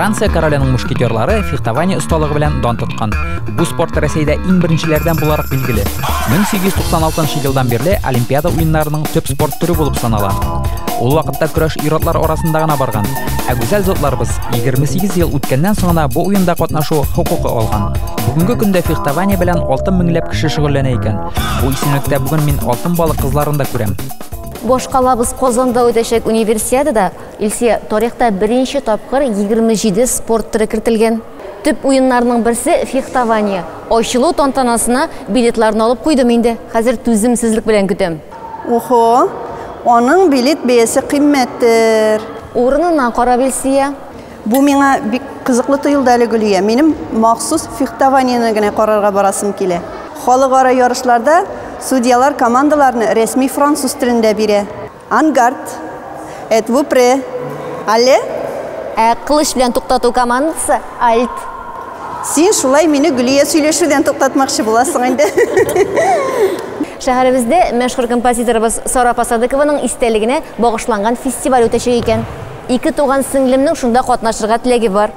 Франция короленең мушкетерлары фехтование осталыгы белән дан тоткан. Бу спорт Рәсәйдә иң беренчеләрдән буларак билгеле. 1896 елдан бирле Олимпиада уеннарының төп спорт төре булып санала. Ул вакытта көрәш ир-атлар арасында гына барган. Ә гүзәл затларыбыз 28 ел үткәннән соң гына бу уенда катнашу хокукы алган. Бүгенге көндә фехтование белән 6 меңләп кеше шөгыльләнә икән. Бу исемлектә бүген мин алтын балык кызларын да күрәм. Башкалабыз Казанда үтәчәк универсиадада Илсөя, тарихта беренче тапкыр 27 спорт төре кертелгән. Төп уеннарның берсе, фехтование. Ачылу тантанасына билетларны алып куйдым инде. Хәзер түземсезлек белән көтәм. Ухо, аның билет бәясе кыйммәттер. Урынына карап, Илсөя. Бу миңа бик кызыклы тоелды әле, Гөлия. Минем махсус фехтованиене генә карарга барасым килә. Халыкара ярышларда судьялар командаларны рәсми француз телендә бирә. Ангард. Эт ву пре. Але. Ә кылыч белән туктату командасы альт. Син шулай мине Гөлия сөйләшүдән туктатмакчы буласың инде. Шәһәребездә мәшһүр композиторыбыз Сара Пасадыкованың истәлегенә багышланган фестиваль үтәчәк икән. Ике туган сеңлемнең шунда катнашырга теләге бар.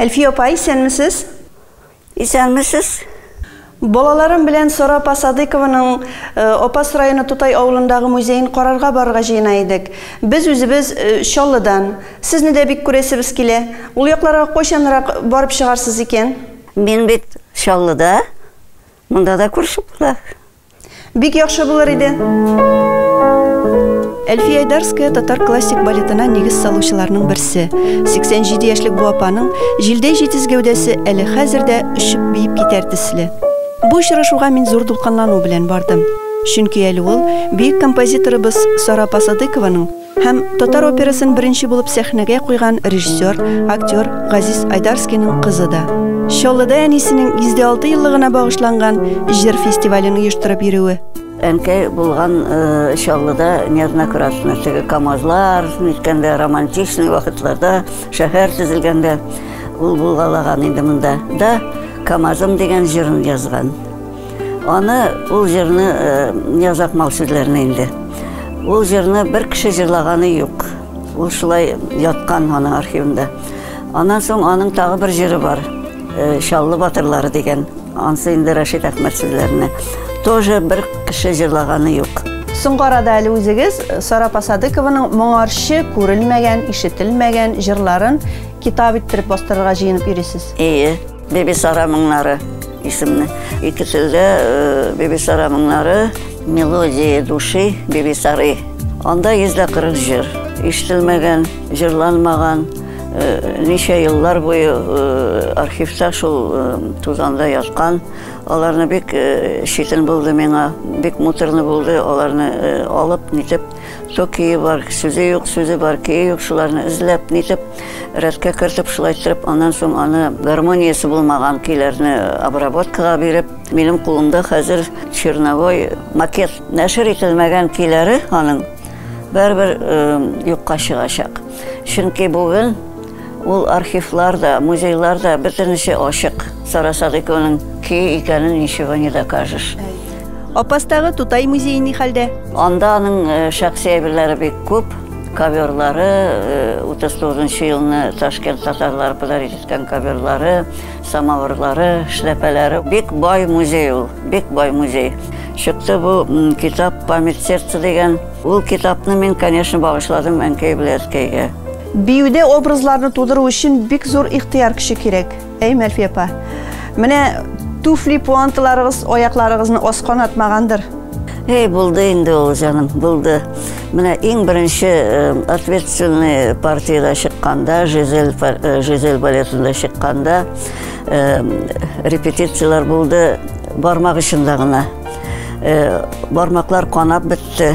Әлфия апа, исәнмесез? Исәнмесез. Балаларым белән Сара апа Садыкованың э, Апас районы Тутай авылындагы музеен карарга барырга җыена идек. Без үзебез э, Чаллыдан. Сезне дә бик күрәсебез килә. Ул якларга кайчанрак барып чыгарсыз икән? Мин бит Чаллыда. Монда да күрше була. Бик яхшы булыр иде. Әлфия Айдарская татар классик балетына нигез салучыларның берсе. 87 яшьлек бу апаның җилдәй җитез гәүдәсе әле хәзер дә өшеп биеп китәр төсле. Бу очрашуга мин зур дулкынлану белән бардым. Чөнки әле ул бөек композиторыбыз Сара Пасадыкованың Һәм татар операсын беренче булып сәхнәгә куйган режиссер, актер Газиз Айдарскийның кызы да. Чаллыда әнисенең 106 еллыгына багышланган җыр фестивален оештырып йөрүе. Әнкәй булган Чаллыда неоднократно, теге КАМАЗлар ниткәндә, романтичный вакытларда, шәһәр төзелгәндә ул булгалаган инде монда да, КАМАЗым дигән җырын язган. Аны, ул җырны, язак мал сүзләрне инде. Ул җырны бер кеше җырлаганы юк. Ул шулай яткан аның архивында. Аннан соң аның тагы бер җыры бар. Шаллы батырлары дигән. Ансы инде Рәшит Әхмәт сүзләренә. Тоже бер кеше җырлаганы юк. Соңгы арада әле үзегез Сара Пасадыкованың моңарчы күрелмәгән, ишетелмәгән җырларын китап иттереп бастырырга җыенып йөрисез. Әйе. Бибисара моңнары исемле. Икесе дә э, Бибисара моңнары, мелодии души Бибисары. Анда 140 җыр. Ишетелмәгән, җырланмаган, э, ничә еллар буе э, архивта шул тузанда яткан. Аларны бик читен булды миңа, бик муторны булды аларны алып, нитеп Токие бар, сүзе юк, сүзе бар, кие юк, шуларны эзләп, нитеп, рәткә кертеп, шулай иттереп, аннан соң аны гармониясе булмаган көйләрне обработкага биреп, минем кулымда хәзер черновой макет. Нәшер ителмәгән көйләре аның бәрбер юкка чыгачак. Чөнки бүген Ул архивлар да, музейлар да бөтенесе ачык. Сара Садыйкованың ки икәнен ничего не докажешь. Апастагы Тутай музее ни хәлдә? Анда аның э, шәхси әйберләре бик күп. Коверлары, 39 э, елны Ташкент татарлары подарит иткән коверлары, самавырлары, шляпәләре. Бик бай музей ул, бик бай музей. Чыкты бу китап «Память сердца» дигән. Ул китапны мин, конечно, багышладым әнкәй белән әткәйгә. Биюдә образларны тудыру өчен бик зур ихтыяр көче кирәк. Әй, Мәлфия апа, менә туфли пуанталарыгыз аякларыгызны аскан атмагандыр. Әй, булды инде ул, җаным, булды. Менә иң беренче э, ответственный партияда чыкканда, Жизель, э, Жизель балетында чыкканда, э, репетициялар булды бармак очында гына. Бармаклар канап бетте.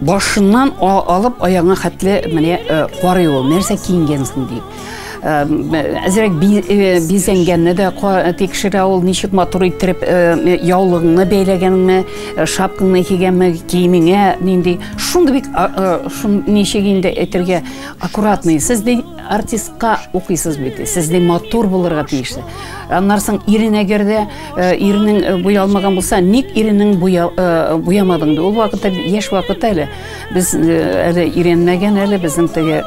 Башыннан алып аягына хәтле менә карый ул, нәрсә киенгән соң дип. Әзерәк бизәнгәнне дә тикшерә ул, ничек матур иттереп яулыгыңны бәйләгәнеңме, шапкаңны кигәнме, киемеңә нинди. Шундый бик, ничек инде әйтергә, аккуратный. Сез ди артистка укыйсыз бит, сез ди матур булырга тиеш. Аннары соң ирен әгәр дә. Иренең буялмаган булса, ник иренең буямадың ди? Ул вакытта яшь вакыты әле. Без әле өйрәнмәгән әле, безнең теге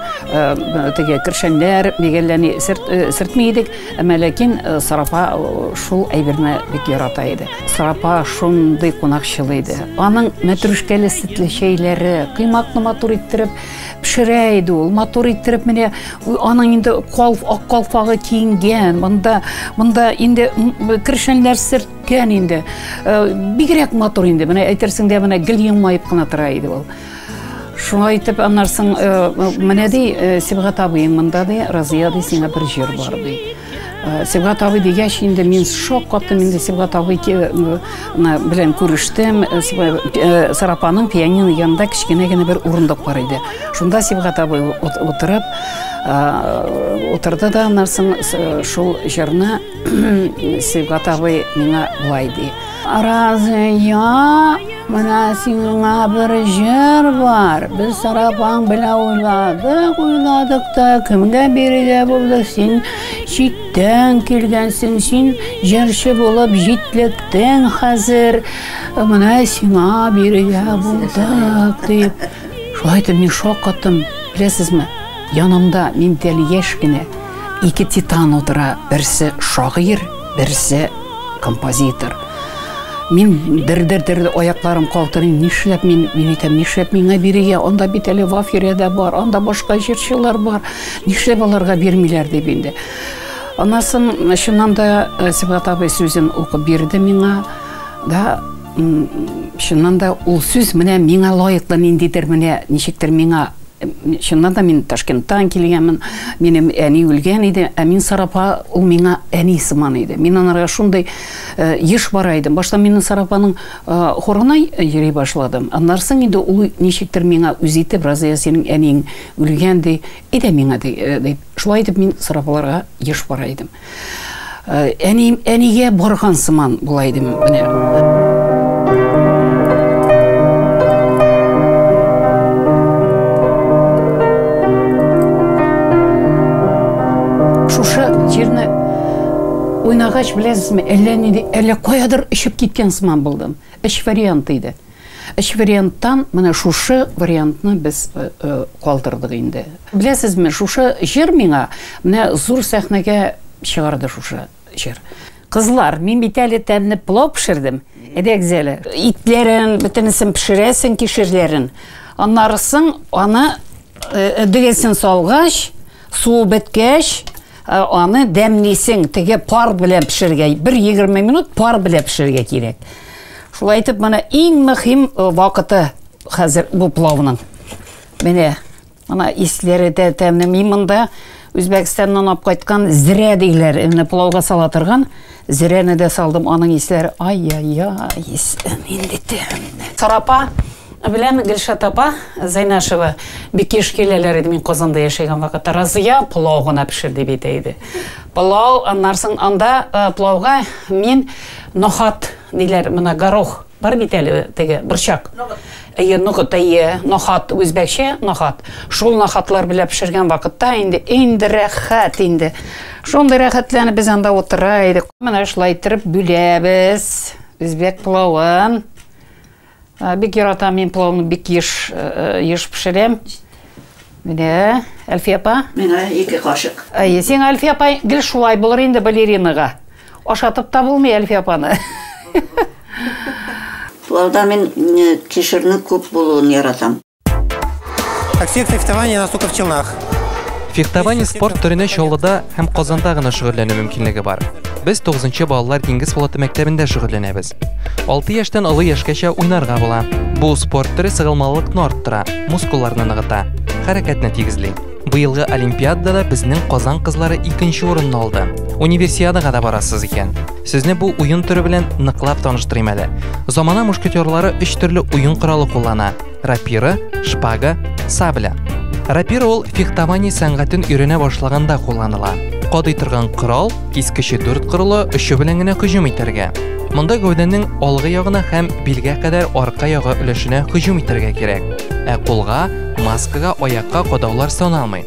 теге кершәннәр, бик әллә ни сөртми идек. Әмма ләкин Сарафа шул әйберне бик ярата иде. Сарафа шундый кунакчыл иде. Аның мәтрүшкәле сөтле чәйләре, коймакны матур иттереп, пешерә иде ул матур иттереп менә аның инде калф ак калфагы киенгән монда монда инде кершәннәр серткән инде э, бигрәк матур инде менә әйтерсең дә менә гел елмаеп кына тора иде ул шуңа итеп аннарсың э, менә ди э, сибгат абыең монда ди разыя ди сиңа бер җыр бар ди Э, Сибгат абый дигәч, инде мин шок каптым, инде Сибгат абый э, белән күрештем. Э, Сарапаның пианино янында кечкенә генә бер урындык бар иде. Шунда Сибгат абый утырып, утырды да аннан шул җырны Сибгат абый миңа былай ди. Разыя, менә сиңа бер җыр бар. Без сарафан белән уйладык, уйладык та, кемгә бирергә булдык? Син читтән килгәнсең, син җырчы булып җитлектең хәзер. Менә сиңа бирергә булдык, дип. Шулай итеп мин шаккаттым. Беләсезме, янымда миндәл яшь кенә ике титан утыра, берсе шагыйрь, Берсе композитор. Мин дер-дер-дер аякларым калтырый, нишләп мин, мин әйтәм, нишләп миңа бирегә, анда бит әле Вафирәдә бар, анда башка җырчылар бар, нишләп аларга бирмиләр дип инде. Анасын, чыннан да, э, Сибгат абый сүзен укып бирде миңа, да, чыннан да, ул сүз менә миңа лаеклы ниндидер менә, ничектер миңа Чыннан да мин Ташкенттан килгәнмен. Минем әни үлгән иде, ә мин Сарапа, ул миңа әни сыман иде. Мин анарга шундый еш бара идем. Башта мин Сарапаның хорына йөри башладым. Аннары соң инде ул ничектер миңа үз итеп, Разыя, синең әниең үлгән, ди, әйдә миңа, ди, дип. Шулай итеп мин Сарапаларга еш бара идем. Э, әни, әнигә барган сыман була идем менә. Шушы җирне уйнагач беләсезме, әллә нинди, әллә каядыр очып киткән сыман булдым. Эш варианты иде. Өч варианттан менә шушы вариантны без калдырдык инде. Беләсезме, шушы җыр миңа менә зур сәхнәгә чыгарды шушы җыр. Кызлар, мин бит әле тәмле пылау пешердем. Әйдәгез әле. Итләрен, бөтенесен пешерәсең, кишерләрен. Аннары соң аны дөгесен салгач, суы беткәч, Ә аны дәмлисең, теге пар белән пешерергә, бер егерме минут пар белән пешерергә кирәк. Шулай итеп, менә иң мөһим э, вакыты хәзер бу плавның. Менә, ана исләре дә тәмле. Мин монда Үзбәкстаннан алып кайткан зрә диләр, менә плавга сала торган зрәне дә салдым, аның исләре ай-яй-яй, исләр инде тәмле. Сарапа Белән Гөлшат апа Зәйнәшева бик еш киләләр иде мин Казанда яшәгән вакытта. Разыя пылау гына пешер дип әйтә иде. Пылау, аннан соң анда пылауга мин нохат диләр, менә горох бар бит әле теге борчак. Әйе, ноғыт, әйе, нохат, үзбәкчә нохат. Шул нохатлар белән пешергән вакытта инде инде рәхәт инде. Шундый рәхәтләнеп без анда утыра идек. Менә шулай иттереп бүләбез үзбәк пылавын. Бик яратам мин плавны бик еш еш пешерәм. Менә Әлфия апа. Миңа ике кашык. Әйе, сиңа Әлфия апа гел шулай булыр инде балеринага. Ашатып та булмый Әлфия апаны. Плавда мин кишерне күп булуын яратам. Как всех фехтование нас только в Челнах. Фехтование спорт төренә Чаллыда һәм Казанда гына шөгыльләнү мөмкинлеге бар. Без 9нчы балалар диңгез флоты мәктәбендә шөгыльләнәбез. 6 яшьтән олы яшькәчә уйнарга була. Бу спорт төре сыгылмалылыкны арттыра, мускулларны ныгыта, хәрәкәтне тигезли. Быелгы олимпиадада безнең Казан кызлары 2нче урынны алды. Универсиадага да барасыз икән. Сезне бу уен төре белән ныклап таныштырыйм әле. Замана мушкетерлары өч төрле уен коралы куллана. Рапира, шпага, сабля. Рапира ул фехтование сәнгатен өйрәнә башлаганда кулланыла. Кадый торган корал, кискече дүрт кырлы өче белән генә һөҗүм итәргә. Монда гәүдәнең алгы ягына һәм билгә кадәр арка ягы өлешенә һөҗүм итәргә кирәк. Ә кулга, маскага, аякка кадаулар саналмый.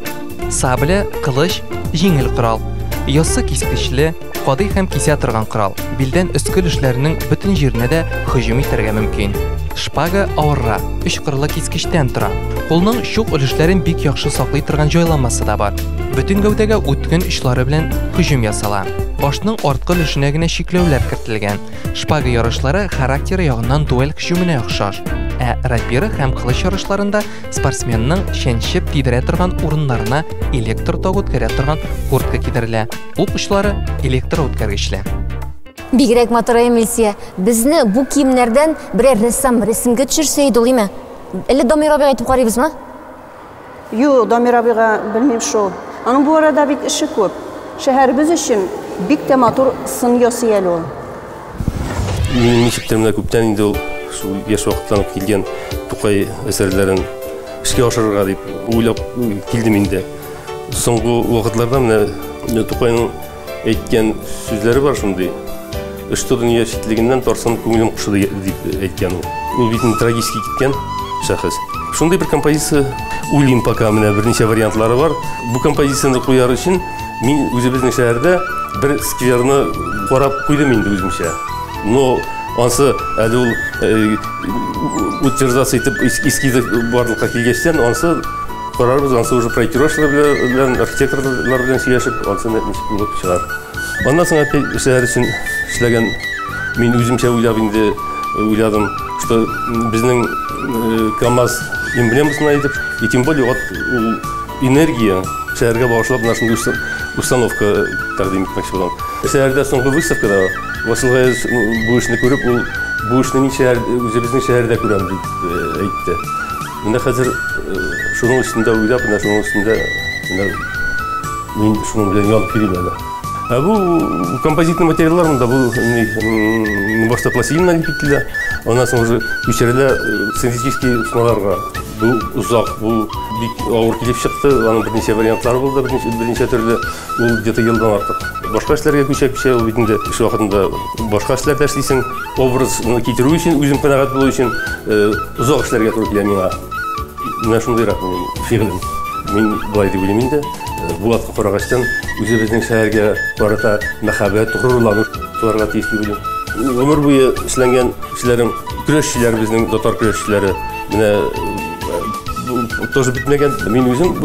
Сабля, кылыч, җиңел корал. Яссы кискечле, Кадый һәм кисә торган корал. Билдән өске өлешләренең бөтен җиренә дә һөҗүм итәргә мөмкин. Шпага авырра, өч кырлы кискечтән тора. Кулның чук өлешләрен бик яхшы саклый торган җайланмасы да бар. Бөтен гәүдәгә үткен очлары белән һөҗүм ясала. Башның арткы өлешенә генә чикләүләр кертелгән. Шпага ярышлары характеры ягыннан дуэль һөҗүменә охшаш. Ә рапира һәм кылыч ярышларында спортсменның чәнчеп тидерә торган урыннарына электр тогы үткәрә торган куртка кидерелә. Ут учлары электроүткәргечләр. Бигрәк матур Эмилсия. Безне бу киемнәрдән берәр рәссам рәсемгә төшерсә иде ул име? Әллә Дамир абыга әйтеп карыйбызмы? Юк, Дамир абыга белмим шул. Аның бу арада бит эше күп. Шәһәребез өчен бик тә матур сын ясый әле ул. Мин ничектер менә күптән инде ул шул яшь вакыттан килгән Тукай әсәрләрен эшкә ашырырга дип уйлап килдем инде. Соңгы вакытларда менә Тукайның әйткән сүзләре бар шундый. Өчтү дөнья читлегеннән тарсан күңелем кушы дип әйткән ул. Ул бит трагически киткән шәхес. Шундый бер композиция уйлыйм пока менә берничә вариантлары бар. Бу композицияне куяр өчен мин үзебезнең шәһәрдә бер скверны карап куйдым инде үземчә. Но ансы әле ул э, утверждаться итеп эскизы барлыкка килгәчтән ансы Карарбыз, ансы уже проектировщиклар белән, архитекторлар белән сөйләшеп, ансы ничек булып чыгар. Аннан соң әти шәһәр өчен эшләгән. Мин үземчә уйлап инде уйладым, что безнең КАМАЗ эмблемасына итеп, и тем более вот ул энергия шәһәргә багышлап менә шундый установка тәкъдим итмәкче булам. Шәһәрдә соңгы выставкада Васил Гаяз бу эшне күреп, ул бу эшне мин шәһәр, үзебезнең шәһәрдә күрәм дип әйтте. Менә хәзер шуның өстендә уйлап, менә шуның өстендә менә мин шуның белән янып йөрим әле. Ә бу композитный материаллар монда бу башта пластилин алып кителә, аннан соң уже күчерелә синтетический смоларга. Бу озак, бу бик авыр килеп чыкты, аның берничә вариантлары булды, берничә берничә төрле. Ул где-то елдан артык. Башка эшләргә күчә-күчә ул бит инде эш вакытында башка эшләрдә эшлисең. Образны китерү өчен, үзем канәгать булу өчен озак эшләргә туры килә миңа. Менә шундыйрак минем фигылем. Мин болай дип уйлыйм инде. Булатка карагачтан үзебезнең шәһәргә карата мәхәббәт, горурлану туарга тиеш дип уйлыйм. Гомер буе эшләнгән эшләрем, көрәшчеләребезнең, татар көрәшчеләре, менә тоже бетмәгән. Мин үзем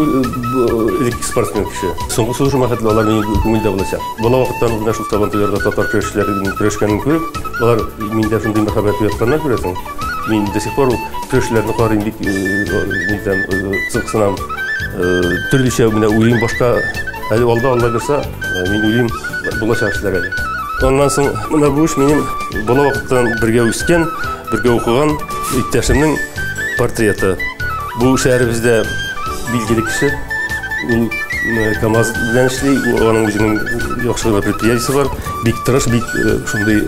элекке спортсмен кеше. Соңгы сулышыма хәтле алар минем күңелдә булачак. Бала вакыттан менә шул Сабантуйларда татар көрәшчеләренең көрәшкәнен күреп, алар миндә шундый мәхәббәт уятканнар күрәсең. Мин до сих пор көрәшчеләрне карыйм бик нидән кызыксынам. Төрлечә менә уйлыйм башка. Әле алда Алла бирса, мин уйлыйм булачак эшләр әле. Аннан соң менә бу эш минем бала вакыттан бергә үскән, бергә укыган иптәшемнең портреты. Бу шәһәребездә билгеле кеше. Ул КАМАЗ белән эшли, аның үзенең яхшы гына предприятиесе бар. Бик тырыш, бик шундый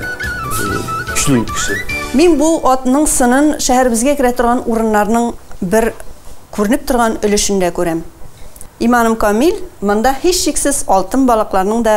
көчле кеше. Мин бу атның сынын шәһәребезгә керә торган урыннарның бер күренеп торган өлешендә күрәм. Иманым камил, монда һичшиксез алтын балыкларның да